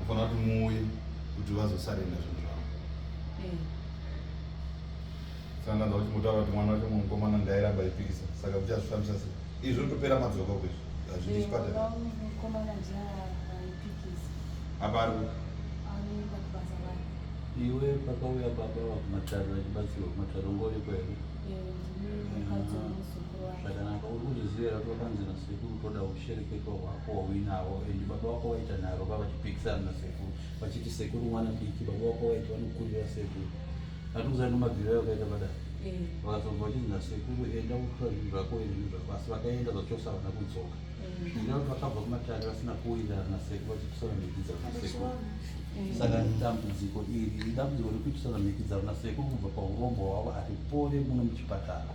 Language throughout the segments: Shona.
ufanira kuti muuye kuti vazosarenda zvinhu zvavo eh. sandanza kuti mutaura kuti mwana wacho mukomana ndairamba ipikisa saka kuchazvifambisa se izvi zvinotopera madzoka kwezvi hazvidi chipatara apa ari iwe pakauya baba vakumatare vachibatsirwa kumatare ngoriko here zvakanaka uri kuzviziva kuti wakanzi nasekuru toda kushereketwa hwako wauinavo and baba wako waita nharo ka vachipikisana nasekuru vachiti sekuru mwana diki baba wako waiti vanokurira sekuru atikuza nemabviro yakaita padai eh. vakazobva vachinzi nasekuru enda kutora zvinhu zvako ende zvinhu zvako asi vakaenda zvachose havana kudzoka eh. ndaa kuti vakabva kumatare vasina kuwirirana nasekuru vachipisana mhiki dzavo nasekuru eh. saka dambudziko iri idambudziko rekuitisana mhiki dzavo nasekuru kubva paurombo hwavo aripore muno muchipatara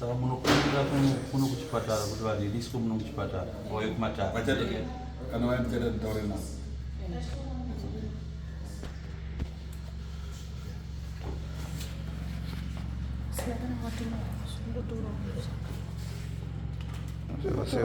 Saka munokumbira kuno kuchipatara kuti variriswe muno kuchipatara vauye kumatare kana vaya tichaita titaure navo Gracias.